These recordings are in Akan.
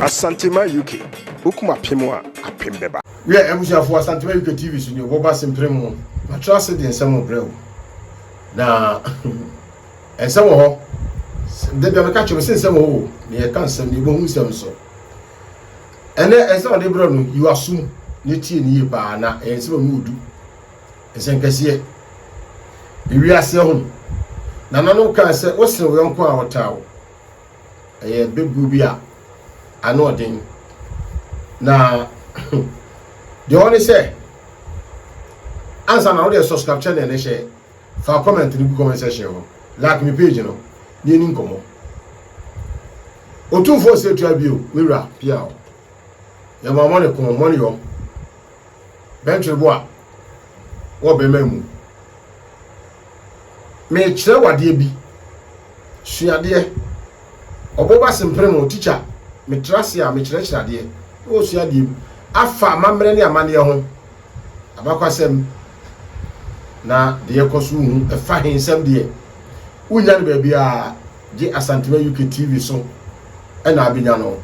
Asantema UK, Wokum apem a, apem bɛba. Wiɛ, abusuafoɔ, Asantema UK TV so nie, wɔba Simpire mu. Matra ase de nsɛm rebrɛ wo. Na nsɛm wɔ hɔ, da bia meka kyerɛ wo sɛ nsɛm wɔ hɔ o, na yɛka nsɛm, na yɛbɛhu nsɛm nso. Ɛnɛ nsɛm a mede rebrɛ wo no, yi w'asom na tie no yie paa, na ɛyɛ nsɛm a ɛmu yɛ du. Nsɛnkɛseɛ. Ewiase ho. Nananom kaa sɛ wosene wo yɔnko a ɔtaa wo. Ɛyɛ bɛbuo bi a ano ɔden. Na deɛ ɔne sɛ ansa na wode ɛsɔ subscribe channel ne hyɛ fa comment no gu comment section ho like me page no ne ɛni nkɔmmɔ ɔtumfoɔ sɛ tua bio me wura pia o yɛ ma mɔne ko mɔne yɔ Bɛntwerebo a wɔ bɛmma mu. Meekyerɛ wo adeɛ bi. Suadeɛ. Ɔbo ba semprem o, tikya, metra ase a mekyerɛkyerɛ adeɛ na wɔsua adeɛ bi afa amammerɛ ne amanneɛ ho, abakwasɛm, na deɛ ɛkɔ so hu. Ɛfa he nsɛm deɛ, wonnya no baabiara gye Asantema UK TV so na abɛnya no.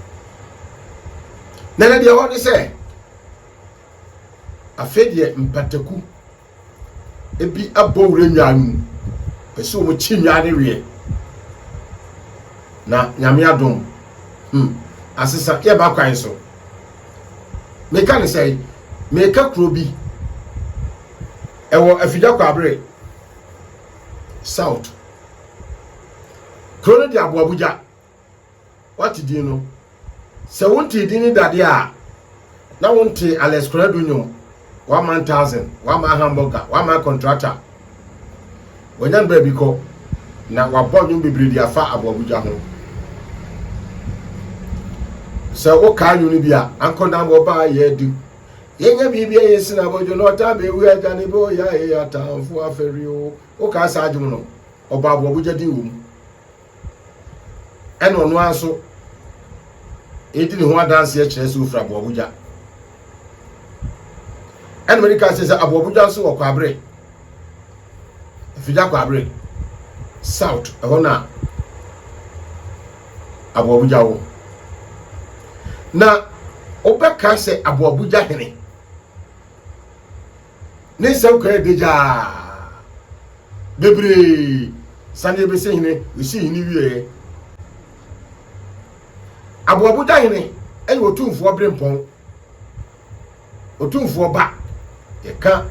Na ɛnɛ deɛ ɛwɔ ne sɛ, Afei deɛ mpataku ebi abɔ wura nnwa no mu. Pɛ sɛ wɔn kyi nnwa no weɛ. Na nyame adom. Hmm. Asesa yɛba kwan so. Meka ne sɛ meka kuro bi ɛwɔ afidya kwabere south. Kuro no de aboa bugya Woate din no? Sɛ wontee din no dade a, na wontee Alex Korado nnwom, One Man Thousand, One Man Hamburger, One Man Contractor. Wanya ne baabi kɔ, na wabɔ nnwom bebree de afa aboabogya ho. Sɛ wokae nnwom no bi a, ankɔ na wɔba yɛ de yɛnyɛ biribi a yɛsi na abɔdwo no ɔtan bɛwu agya ne bɔ yɛ atamfo afɛre o. Wokae saa dwom no? Ɔbɔ aboabogya din wɔ mu. ɛna ɔno ara nso ɛdi ne ho adanseɛ kyerɛ sɛ ɔfiri aboabogya ɛna mede ka sɛ sɛ aboabogya nso wɔ kwabere afigya kwabere south ɛhɔ na aboabogya wɔ na wobɛka sɛ aboabogya hene Ne nsɛm kɔ yɛ dagya aa. Bebree saneɛ bɛsi hene, ɛsii hene wieɛ. Aboabogya hene yɛ Otumfoɔ Berempɔn, Otumfoɔ ba, yɛka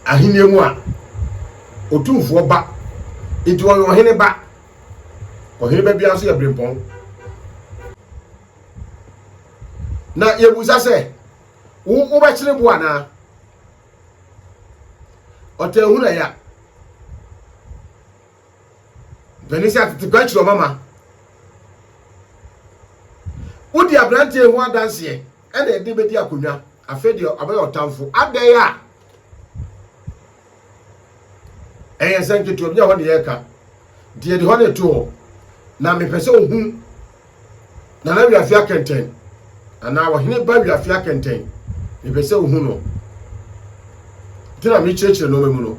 ahenniɛ mu a, Otumfoɔ ba, nti ɔyɛ ɔhene ba, ɔhene ba biara nso yɛ Berempɔn. Na yɛbusa sɛ, Wo wobɛkyere bo anaa? Ɔtɛnhunu ɛya. Mpanin sɛ atete pa akyiri ɔmama. Wodi aberanteɛ ho adanseɛ ɛna ɛde bɛdi akonnwa. Afei deɛ ɔbɛyɛ ɔtamfo. Adɛn a ɛyɛ nsɛm nketewa bi a hɔ ne yɛreka nti yɛde hɔ ne to hɔ na mepɛ sɛ ohu nana wiafi akɛntɛn anaa ɔhene ba wiafi akɛntɛn mepɛ sɛ ohu no nti na mekyerɛkyerɛ nneɛma mu no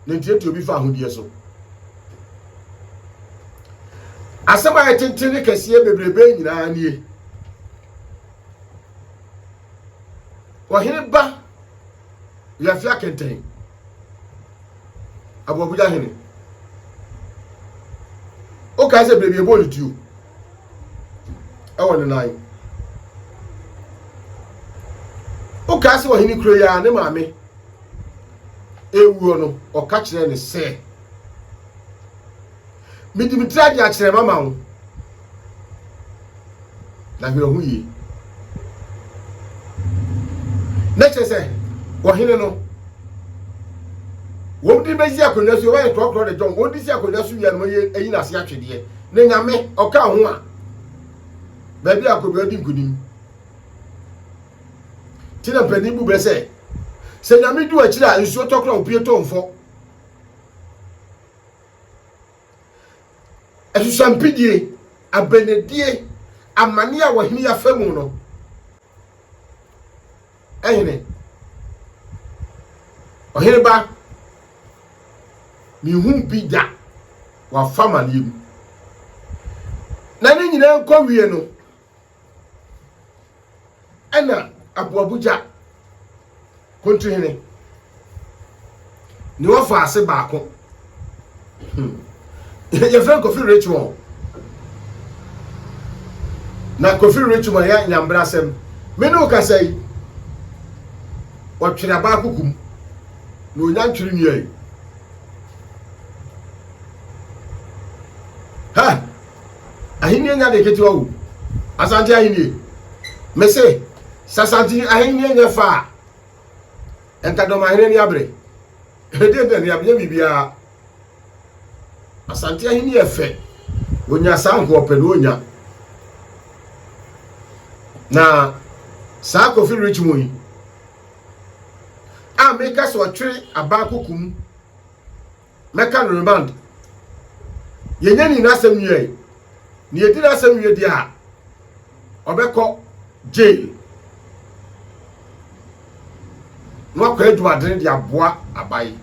ne ntiatia obi fa ahodeɛ so asɛm a yɛtenten ne kɛseɛ bebrebe nyinaa nie Ɔhene ba wiase akɛntɛn aboabuya hene wokae sɛ baabi ɛbɔ ne tuo ɛwɔ ne nan wokae sɛ ɔhene kuro yi a ne maame ɛwuo no ɔka kyerɛ ne sɛ mede me tiri agye akyerɛ mama wo Na hwɛ ho yie. Na kyerɛ sɛ ɔhene no wɔn de bɛsi akonnwa so wɔyɛ trɔtrɔ de dɔn wɔn de si akonnwa so wia no wɔyɛ ayi n'ase atwedeɛ na nyame ɔka ho a baabi a akonnwa di nkunim ti na mpanyin bu bɛ sɛ sɛ nyame du akyire a nsuo tɔkorɔ a opie tɔ mfɔ Asusampidie, abenedie, amane a wɔhene yi afa mu no, ɛhene, ɔhene ba, mehu bi da wafa amaneɛ mu. Na ne nyinaa nkɔ wie no, Ɛna Aboabogya Kontuhene ne ɔfaase baako hmm. yɛfrɛ Kofi Richmond na Kofi Richmond yɛ nyambrasɛm me ne wokasa yi ɔtwere abaa kukum na onya ntwere nua yi ha Ahennie nyɛ ade ketewa o, Asante ahennie. Me se, sɛ Asante ahennie nyɛ fɛ a, nka Dɔmahene ani abere. Ɛdeɛ na ani abere, nyɛ biribiara. Asante ahennie yɛ fɛ, wɔnya saa nka ɔpɛ na ɔnya. Na saa Kofi Richmond yi, a meka sɛ ɔtwere abaa kokum, Mɛka no remand. Yɛnyɛ ne nyinaa asɛm wie ɛ. Ne yɛdi n'asɛm wie deɛ a, ɔbɛkɔ jail. Na wakɔ adwumadene de aboa aban.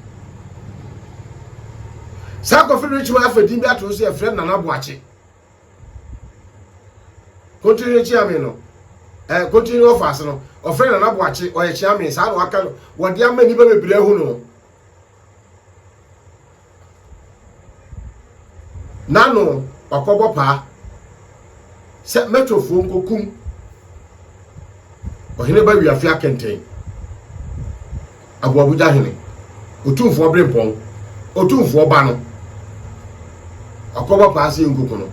Saa Kofi Richman afa din bi ato so yɛfrɛ Nana Boakye. Kontinhene Kyeame no, eh, Kontinhene ɔfaase no, ɔfrɛ Nana Boakye, ɔyɛ Kyeame, saa na waka no, wɔde ama nnipa bebree ahu no. N'ano ɔkɔbɔ paa sɛ mɛtɔfoɔ nkɔkum ɔhene ba wiafe akɛntɛn aboabogya hene otumfoɔ berempɔn otumfoɔ ba no ɔkɔbɔ paa sɛ yɛnkɔku no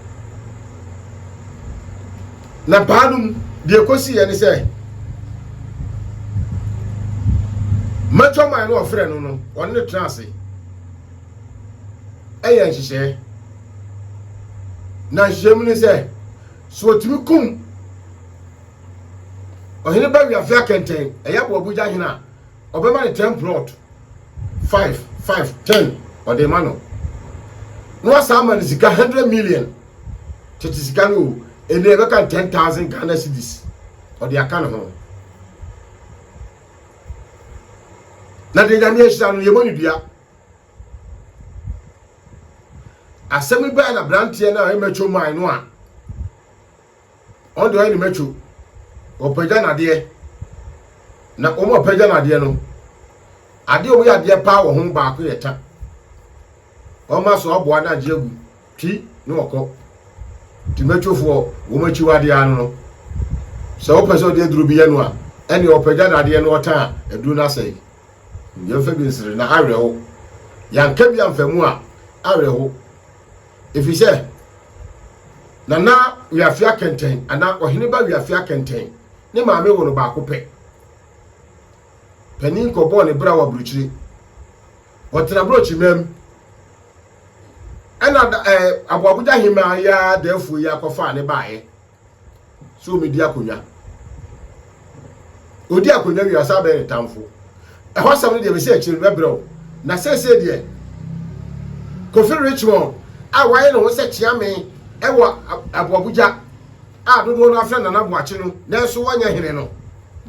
Na paa no mu deɛ ɛkɔsiiɛ ne sɛ Matoman no ɔfrɛɛ no no, ɔne no tenaa ase yɛɛ nhyehyɛeɛ. Na nhyehyɛeɛ mu ne sɛ, sɛ ɔtumi kum Ɔhene Bawiafe Akɛntɛn, ɛyɛ Aboabogya hene a, Ɔbɛma no ten plot, five, five, ten, ɔde rema no. Na wasan ama no sika hundred million, tete sika no o, ɛnna ɛbɛka no ten thousand Ghana cedis, ɔde aka ne ho. Na deɛ Nyame ahyira no, yɛmmɔ ne dua. Asɛm yi bɛɛ na branteɛ no a ɛmɛtwo man no a, Wɔn deɛ wɔayɛ no mɛtwo, wɔpagya no adeɛ, na wɔn a wɔpagya no adeɛ no, adeɛ a wɔyɛ adeɛ paa wɔ ho baako yɛ ta. Wɔn aso aboa no agye agu, twi ne wɔkɔ. Nti mɛtwofoɔ, wɔn akyiwadeɛ ano no, sɛ wopɛ sɛ ɔde aduro bi yɛ no a, ɛnneɛ ɔpagya no adeɛ na ɔtã a, aduro no asɛe. Yɛmfa bi nsere na awerɛho, yɛanka bi amfa mu a, awerɛho. Efisɛ Nana Wiafia Kɛntɛn anaa Ɔheneba Wiafia Kɛntɛn ne maame woo no baako pɛ. Panin kɔbɔɔ ne bra wɔ aburokyire. Wɔtena Brokyimaam. Ɛna da ɛɛ Aboabogya Hemmaa yi ara daafuo yi ara kɔfaa ne baeɛ. sɛ ɔmɛdi akonnwa ɔdi akonnwa wie asa bɛyɛ ne tamfo ɛhɔ asɛm no deɛ bɛsɛ akyire no bɛbrɛ wo na sɛsɛ deɛ Kofi Richmond a wayɛ ne ho sɛ kyeame ɛwɔ aboabogya a dodoɔ no afrɛ Nana Boakye no nanso wɔnyɛ hene no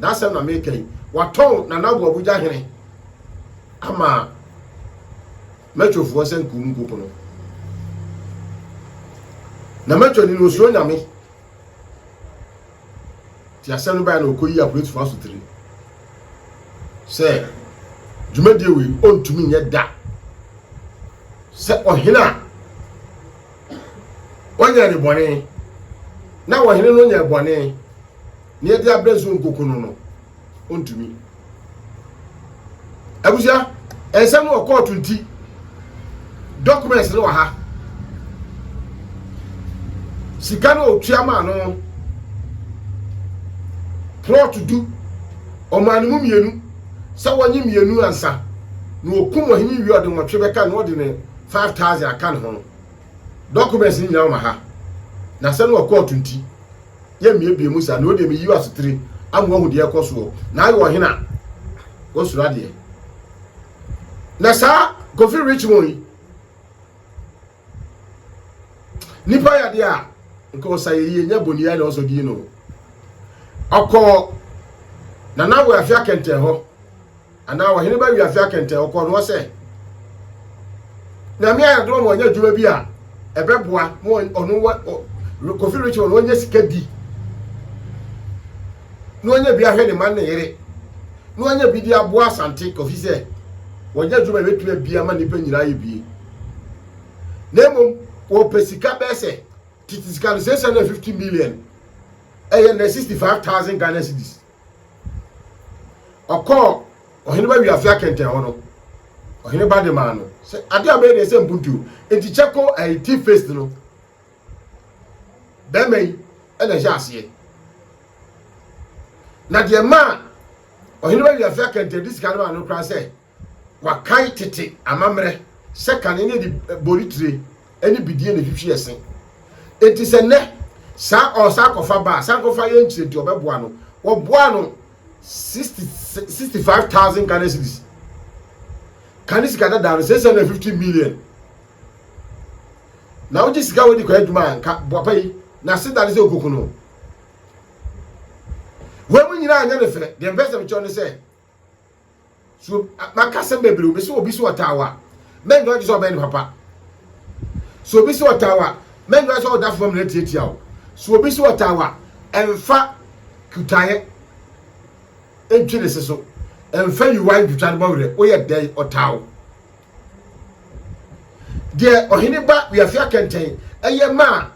n'asɛm na meka yi watɔn Nana Aboabogya hene ama Mɛtwe foɔ sɛ nkuo mu nkoko no, na mɛtwe ani no osuro Nyame. Nti asɛm no baeɛ na ɔkɔyii apolisifoɔ asotire sɛ dwumadie wei ɔntumi nyɛ da sɛ ɔhene a ɔnyɛɛ ne bɔne na ɔhene no nyɛɛ bɔne. Nea ɛde abrɛ nso nkoku no no, ontumi. Abusua, nsɛm no wɔ kɔɔto nti, documents no wɔ ha. Sika no otua maa no, plot du, ɔmaa no mu mmienu, sɛ wɔnye mmienu ansa, na wɔkum ɔhene wie ɔde nwɔtwe bɛka na ɔde ne 5,000 aka ne ho no. Documents no nyinaa wɔ ma ha, na asɛm no wɔ kɔɔto nti. yɛ mmea ebien mu saa, nea odi a meyi w'asetire ama woahu deɛ ɛkɔ soɔ, na ayɛ ɔhene a wɔsuro adeɛ. Na saa Kofi Richmond yi, nipa yɛ adeɛ a nka ɔsa yɛ yie, nyɛ boniai na ɔsɔ din no. Ɔkɔɔ Nana Awoyafia kɛntɛn hɔ. Anaa ɔhene ba wiase akɛntɛn, ɔkɔɔ no hɔ sɛ, Nyame ayɛ adom ama ɔnyɛ adwuma bi a ɛbɛboa ma ɔno wa Kofi Richard ɔno ɔnyɛ sika di na ɔnyɛ bi ahwɛ ne ma ne yere na ɔnyɛ bi de aboa Asante Kofi sɛ wɔnyɛ adwuma ɛbɛtumi abia ma nnipa nyinaa yɛ bie na mmom wɔpɛ sika bɛɛ sɛ tete sika no sɛ sɛ na 50 million ɛyɛ na 65,000 Ghana cedis Ɔkɔɔ ɔhene ba wiase akɛntɛn hɔ no, ɔhene ba de maa no sɛ ade a bɛyɛ deɛ sɛ mpuntuo. Nti kyɛ ko ɛyi ti faced no. Bɛrima yi ɛna ɛhyɛ aseɛ. Na deɛ maa ɔhene ba wiase akɛntɛn de sika no maa no koraa sɛ Wɔakae tete amammerɛ sɛ kane no de boritire ne bidie na ɛtwitwi ɛse. Enti sɛ nnɛ saa ɔsankɔfa ba a, sankɔfa yɛ nkyerɛ nti wɔbɛboa no. Wɔboaa no 60, 65,000 Ghana cedis. Kane sika dadaa no, 650 million. Na wogye sika wɔ de kɔ adwuma a, nka boapa yi, n'aseda ne sɛ ɔkoku no. Wei mu nyinaa nyɛ ne fɛ. Deɛ mpɛ sɛ mekyerɛ ne sɛ, So maka asɛm bebree, obi sɛ obi sɛ ɔtaa wa, mɛndɔ gye sɛ ɔbɛn ne papa. So obi sɛ ɔtaa wa, mɛndɔ sɛ ɔda fam na atiatia o. So obi sɛ ɔtaa wa, ɛmfa kutaeɛ ntwe ne se so, ɛmfa yiwa ntwitwa ne bɔwerɛ, woyɛ dɛn ɔtaa wo. Deɛ ɔhene ba wiafi akɛntɛn ɛyɛ maa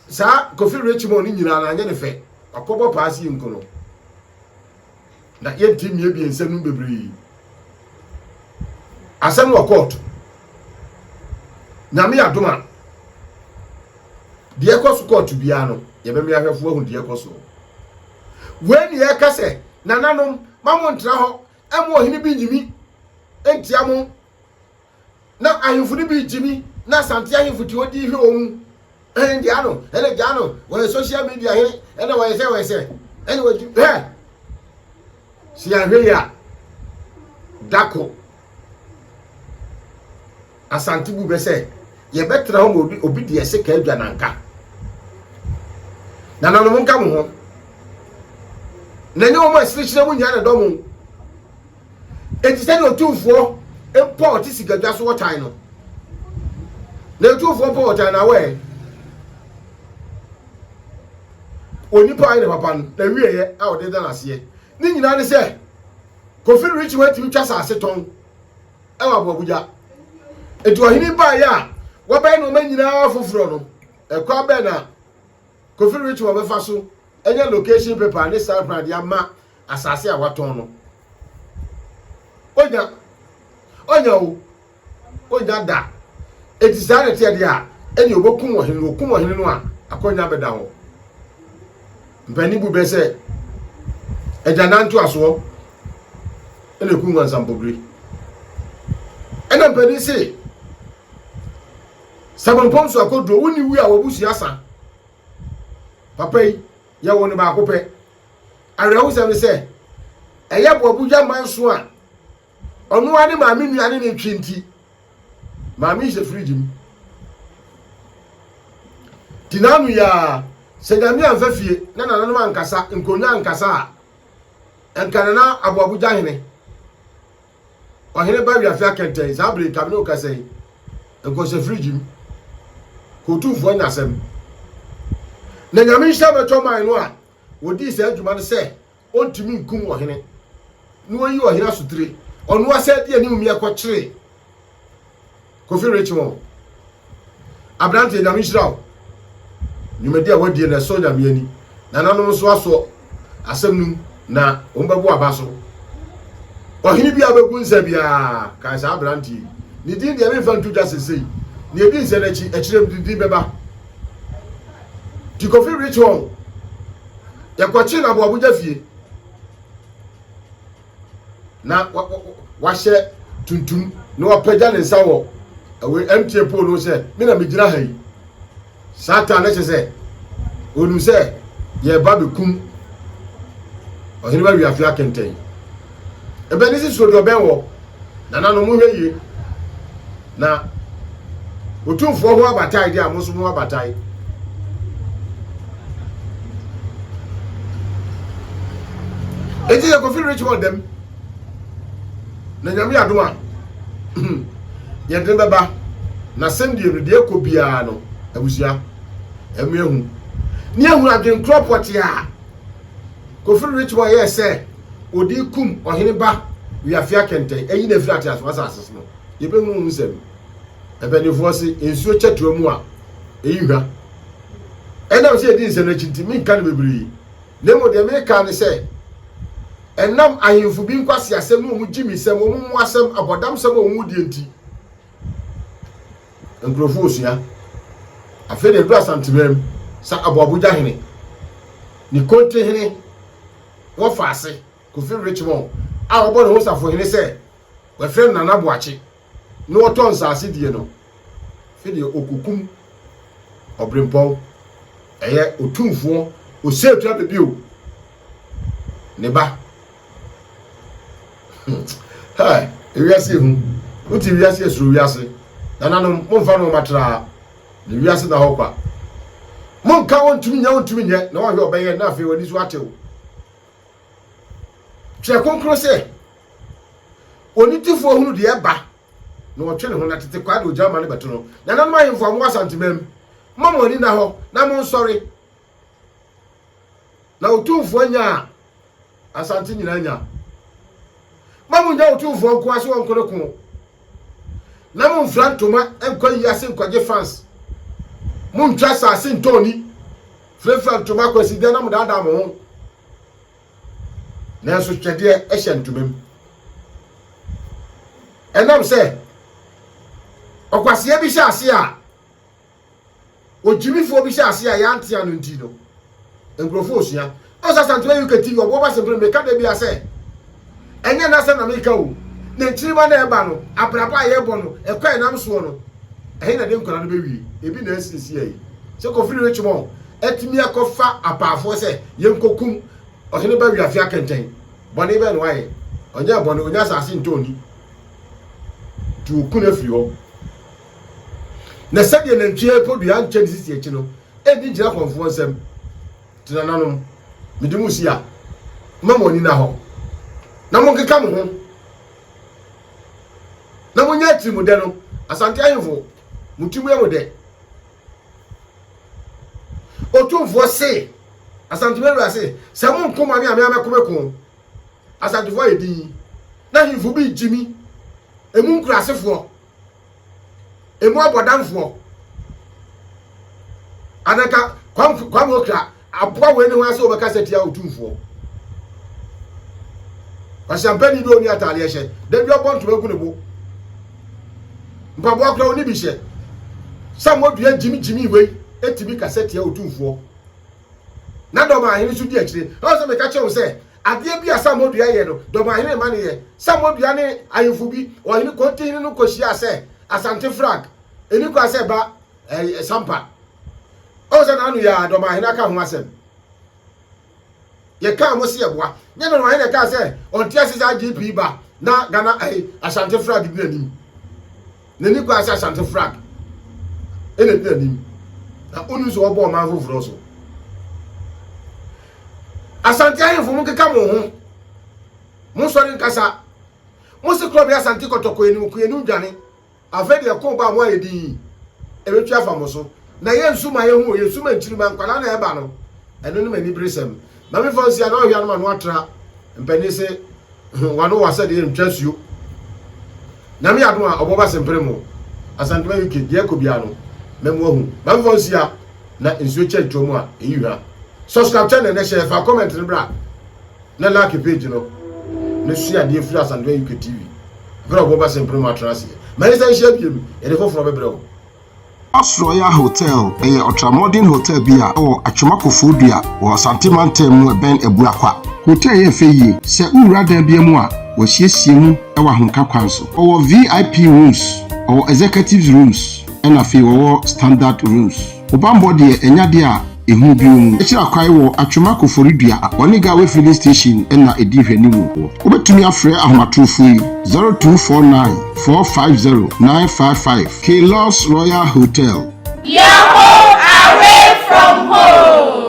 saa Kofi Richmond ne nyinaa na anyɛ ne fɛ, wakɔbɔ paa si nko no. Na yɛte mmea biɛnsa no bebree asɛm wɔ kɔɔto. Nyame adom a, deɛ ɛkɔ so kɔɔto biara no, yɛbɛme ahwɛfoɔ ahu deɛ ɛkɔ soɔ. Wei ne yɛka sɛ, nananom, ma mo ntra hɔ, ɛma ɔhene bi nyimi ntia mo Na ahemfo no bi gyimi na Asante ahemfo ti odi hwɛ wɔn mu. Ɛn gya ano, ɛna gya ano, wɔyɛ social media hene, ɛna wɔyɛ sɛ wɔyɛ sɛ, ɛna wɔgyi hɛ. Sɛ yɛanhwɛ yi a, dako Asante bu bɛ sɛ yɛbɛtena hɔ ma obi, obi deɛ se ka adwa nanka. Nananom nka mo ho. Na nyɛ wɔn a sirihyira mu nyinaa na dɔm o. Enti sɛnea otumfoɔ mpa ɔte sikadwa so ɔtan no, na otumfoɔ mpa ɔtan na awɛ onipa a ɔyɛ ne papa no na wieɛ a ɔde da n'aseɛ ne nyinaa ne sɛ Kofi Richie wantumi twa saase tɔn ɛwɔ aboabogya. Enti ɔhene baeɛ a wɔbɛyɛ nneɛma nyinaa foforɔ no, ɛkwan bɛn na Kofi Richie wɔbɛfa so anya location paper ne stamp de ama Asase a watɔn no, onya, onya o, onya da. Enti saa na ɛteɛ deɛ a, ɛnneɛ wɔbɛkum ɔhene no, wɔkum ɔhene no a, akwannya bɛda hɔ. Mpanin bu bɛ sɛ, agyanan ntoasoɔ na ɛku nwansampogire. Ɛna mpanin se, sɛ mempɔn so akɔduro, wonni wu a w'abusua sa. Papa yi, yɛwoo no baako pɛ, Awerɛhosɛm ne sɛ, ɛyɛ Boabudwa manso a ɔno ara ne maame nua ne ne twe nti, maame yi hyɛ fridge mu. Ti n'ano yi ara, sɛ Nyame amfa fie na nananom ankasa, nkonnwa ankasa a, ɛnka nana Aboabudwa hene. Ɔhene ba wiase akɛntɛn saa bere ka me ne wo kasa yi. Nkɔhyɛ fridge mu. Kɔ otumfoɔ anya asɛm. Na Nyame nhyira bɛtɔ man no a wɔdii saa adwuma no sɛ ɔntumi nkum ɔhene na wɔyi ɔhene asotire ɔnoa saa di anim meɛ kɔkyere Kofi Richmond, Aberanteɛ, Nyame nhyira wo. Dwumadi a woadie no, ɛsɔ Nyame ani. Nananom nso asɔ asɛm no mu na wɔbɛbo aba so. Ɔhene biara bɛgu nsa biara, kae saa aberanteɛ yi. Ne din deɛ, memfa nto dwa sesei. Nea ɛdi nsɛ no akyi, akyire no ne din bɛba. Nti Kofi Richmond, yɛkɔkye no Aboabogya fie. na wahyɛ tuntum na wapagya ne nsa wɔ ɛwɔ MTN pole no sɛ me na megyina ha yi saa taa na kyɛ sɛ onim sɛ yɛreba bɛkum ɔhene ba wiafe akɛntɛn ɛbɛne si suodeɛ ɔbɛn wɔ nananom hwɛ yie Na Otumfoɔ ho abatae deɛ a, mo nso mo abatae. Eti yɛ Kofi Richmond dɛm. Na nyame yɛ adom a, yɛde bɛba. Na sɛndeɛ no deɛ kɔ biara no, abusua, ɛmu ehu. Ne ehu adwenkorɔ pɔte a Kofi Richmond yɛɛ sɛ ɔde kum ɔhene ba Wiafia Kɛntɛn, ayi no afiri ateasefoɔ asase so no. Yɛbɛhu ho nsɛm. Mpanimfoɔ se, nsuo kyɛ toa mu a, ɛyi hwa. Ɛnam sɛ yɛdi nsɛm no akyi nti, menka no bebree. Na mmom deɛ meka ne sɛ, ɛnam ahemfo bi nkwaseasɛm ne wɔn gyimisɛm, wɔn mmoasɛm, abɔdamsɛm a wɔn die nti, nkurɔfoɔ resua. Afei deɛ ɛduru Asanteman mu, sɛ Aboabogya hene, ne Konte hene, wɔfa ase. Kofi Richmond a ɔbɔ ne ho safohene sɛ wɔfrɛ no Nana Boakye na ɔtɔ nsaase die no, afe deɛ ɔkɔkum Ɔbrempɔn, ɛyɛ Otumfoɔ Oseatua Abebio ne ba. Hɛɛ, ewiase ehu. Wote wiase a suro wiase. Nananom, momfa nnoɔma tra, na wiase na hɔ kwa. Monka wɔntumi nyɛ wɔntumi nyɛ na wɔahwɛ ɔbɛyɛ na afei w'ani so atew. Twerɛ Kronkron sɛ, Onitefoɔ hunu deɛ ɛba, na ɔtwe ne ho, na tete kwaa de ogya ma no bɛto no. Nananom ahemfo a mowɔ Asantemam, momma mo ani nna hɔ, na monsɔre, na Otumfoɔ nya a Asante nyinaa nya. Mma monnya Otumfoɔ nko ara sɛ ɔnko ne ko, na momfira ntoma nkɔ ayi ase nkɔgye fans. Montwa asase ntɔn ni. Firafira ntoma kwasideɛ na modaadaa mo ho, nanso twɛdeɛ hyɛ ntoma mu. Ɛnam sɛ ɔkwaseɛ bi hyɛ ase a ogyimifoɔ bi hyɛ ase a yɛante ano nti no, nkurɔfoɔ resua. Ɔsɛ Asantuma UK TV, ɔboɔ ba sempere, meka da biara sɛ, Ɛnyɛ n'asɛm na meka o, n'akyiriba na ɛba no, abrabɔ a yɛbɔ no, ɛkɔ a ɛnam soɔ no, ɛhe na ɛde nkwadaa no bɛwie? Ebi na asiesie ayɛ. Sɛ kɔfiri Richmond atumi akɔfa apaafoɔ sɛ yɛnkɔkum Ɔhene Bawi Afe Akɛntɛn, bɔne bɛn na wayɛ? Ɔnyɛɛ bɔne, ɔnya asase ntɔn ni, nti wɔku no afiri hɔ. Na sɛdeɛ nantwie po dua nkyɛ ne sisi akyi no, ɛnni gyinakɔmfoɔ nsam. Te nananom, mede mo si a, mma mo ani nna hɔ, na monkeka mo ho, na monyɛ atirimudɛ no. Asante ahemfo, mo tirim yɛ mo dɛ? Otumfoɔ se, Asante me wura se, sɛ monko mo a, me a me ara mɛko me ko. Asantefoɔ ayɛ dinn, na ahemfo bi regye mi, emu nkuraasefoɔ. emu abɔdamfoɔ ananka Kwame Okra aboa wei ne ho ase wɔbɛka sɛ tia otumfoɔ kwasampani bi ɔni ataadeɛ hyɛ da bi ɔbɔ ntoma gu ne bo mpaboa koraa ɔni bi hyɛ sɛ mmɔdua gyimigyimi wei ɛtumi kasa tia otumfoɔ na dɔm ahene nso di akyire ɛwɔ sɛ meka kyerɛ wo sɛ Adeɛ bi a Samuodua yɛ no, Dɔmahene ma no yɛ. Samuodua ne ahemfo bi, Ɔhene Kontihene no kɔhyiaa sɛ, Asante Frank, ɛnni kwan sɛ ɛba ɛɛ Sampa. Ɔhu sɛ n'ano yɛ a, Dɔmahene aka ho asɛm. Yɛkaa mo se yɛboa. Nyɛ Dɔmahene na ɛkaa sɛ ɔnte ase sɛ IGP ba na Ghana ɛɛ Asante Frank di n'anim. N'ani koraa sɛ Asante flag na edi anim, na onim sɛ wɔbɔ ɔman foforo so. Asante ahemfo mo nkeka mo ho, mo nsɔre nkasa. Mo se korɔ bɛ Asante kɔtɔkɔ anim, ko anim dwane. Afei deɛ ko ba mo ayɛ din yi, ɛbɛtwi afa mo so. Na yɛ nsu ma yɛnhu o, yɛ nsu ma nkyirimma, nkwadaa na ɛba no, ɛno ne m'aniberesɛm. Maame Fausia na ɔhwɛ a na m'ano atra, mpanin se. Ho wano wa sɛ deɛ ntwa suo. Nyame yɛ adom a ɔbɔ ba sempere mo Asantuma UK deɛ ɛkɔ biara no mɛ mo ahu ma nfɔ nsia na nsuo kyɛ ntoa mu a ɛyi hwa subscribe channel nɛ hyɛ fa comment no bra na like page no ne sua adeɛ firi Asantuma UK TV bere ɔbɔ ba sempere mo atena aseɛ ma yɛnsa nhyia biemu yɛde foforɔ bɛbrɛ wo Oss Royal Hotel yɛ ɔtramɔden hotɛl bi a ɛwɔ Atwema Kofoɔdua wɔ Asante Mantam mu ɛbɛn Abuakwa. Hotɛl yi yɛ fɛ yie. Sɛ wo wura dan bia mu a, wɔasiesie mu wɔ ahomka kwan so. Wɔwɔ VIP rooms, wɔwɔ executives rooms ɛna afei wɔwɔ standard rooms. Wo banbɔ deɛ ɛnyɛ adeɛ a Ehu bio mu kyerɛ kwae wɔ Atwema Koforidua ne Gawe Filling Station na edi nhwɛanim wɔ hɔ. Wobetumi afrɛ ahomatorofo yi, 0249 450 955, K-Lux Royal Hotel. Yahoo away from home.